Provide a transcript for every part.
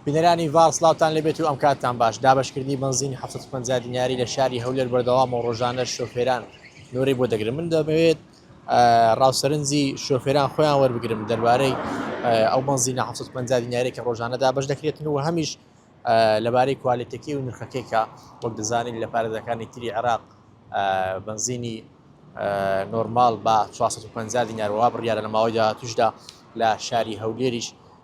بینەرانی ڤاڵ سڵاوتان لێبێت و ئەم کاتتان باش دابەشکردنی بەنزینی حەفتا و پەنجا دیناری لە شاری هەولێر بەردەوامە و ڕۆژانەش شۆفێران نۆرەی بۆ دەگرن من دەمەوێت ڕاوسەرنجی شۆفێران خۆیان وەربگرم دەربارەی ئەو بەنزینە حەفتا و پەنجا دیناری کە ڕۆژانە دابەش دەکرێتن و هەمیش لەبارەی کوالێتەکەی و نرخەکەیکە وەک دەزانین لە پارێزەکانی تری عێراق بەنزینی نۆرمال بە 450 دینارەوە بڕیاە لە ماوەی داهاتوشدا لە شاری هەولێریش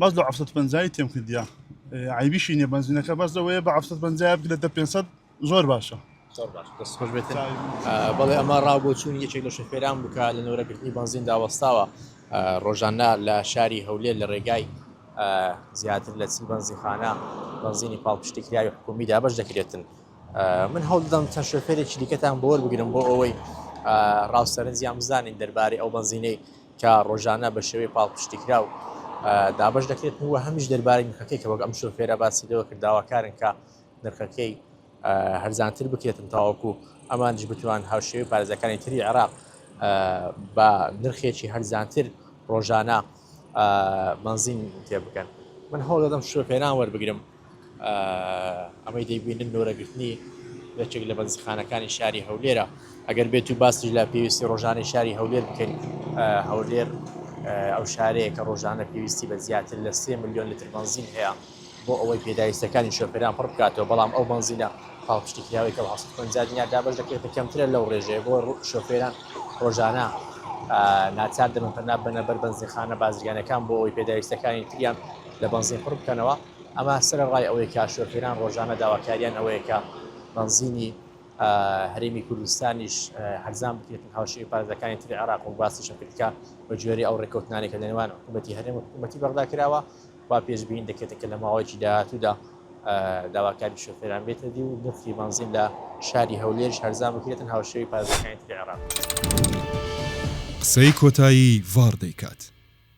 بەس لۆ عەفسەت پەنجایی تێم کردیا عیبیشی نیە بەنزینەکە بەس لەوەیە بە عەفسەت پەنجایە بکرێت دە پێنسەد زۆر باشە زۆر باش دەست خۆش بێت بەڵێ ئەمە ڕاو بۆ چوون یەکێک لە شەفێران بکە لە نۆرەگرتنی بەنزین داوەستاوە ڕۆژانە لە شاری هەولێر لە ڕێگای زیاتر لە چی بەنزیخانە بەنزینی پاڵپشتیکراوی حکومی دابش دەکرێتن من هەوڵدەم چەند شوفێرێکی دیکەتان بۆر بگرم بۆ ئەوەی ڕاوسەرنجیان بزانین دەربارەی ئەو بەنزینەی کە ڕۆژانە بە شێوەی پاڵپشتیکراو دابەش دەکرێت و هەمیش دەربارەی نرخەکەی کە وەک ئەم شۆفێرە باسی لەوە کرد داواکارن کە نرخەکەی هەرزانتر بکرێتن تاوەکو ئەمانش بتوان هاوشێوی پارێزەکانی تری عێراق بە نرخێکی هەرزانتر ڕۆژانە بنزین تێ بکەن من هەوڵ دەدەم شوفێران وەربگرم ئەمەی دەیبینن نۆرە گرتنی یەکێک لە بەنزخانەکانی شاری هەولێرە ئەگەر بێت و باسی لە پێویستی ڕۆژانەی شاری هەولێر بکەین هەولێر ئەو شارەیە کە ڕۆژانە پێویستی بە زیاتر لە سێ میلیۆن لتر بەنزین هەیە بۆ ئەوەی پێداویستەکانی شۆفێران پڕ بکاتەوە بەڵام ئەو بەنزینە پاڵپشتی کراوەی کە هەست پەنجا دینار دابەش دەکرێتە کەمترە لەو ڕێژەیە بۆ شۆفێران ڕۆژانە ناچار دەبن پەنا بەنە بەر بەنزینخانە بازرگانەکان بۆ ئەوەی پێداویستەکانی تریان لە بەنزین پڕ بکەنەوە، ئەمە سەرەڕای ئەوەی کە شۆفێران ڕۆژانە داواکاریان ئەوەیە کە بەنزینی هەرێمی کوردستانیش هەرزان بکرێت و هاوشێوەی پارێزەکانی تری عێراق و باسیشم کرد کە بە گوێرەی ئەو ڕێککەوتنانەی کە لە نێوان حکوومەتی هەرێم و حکوومەتی بەغدا کراوە وا پێشبینی دەکرێت کە لە ماوەیەکی داهاتوودا داواکاری شۆفێران بێتە دی و نرخی بەنزین لە شاری هەولێرش هەرزان بکرێتن هاوشێوەی پارێزەکانی تری عێراق. قسەی کۆتایی ڤاڕ دەیکات.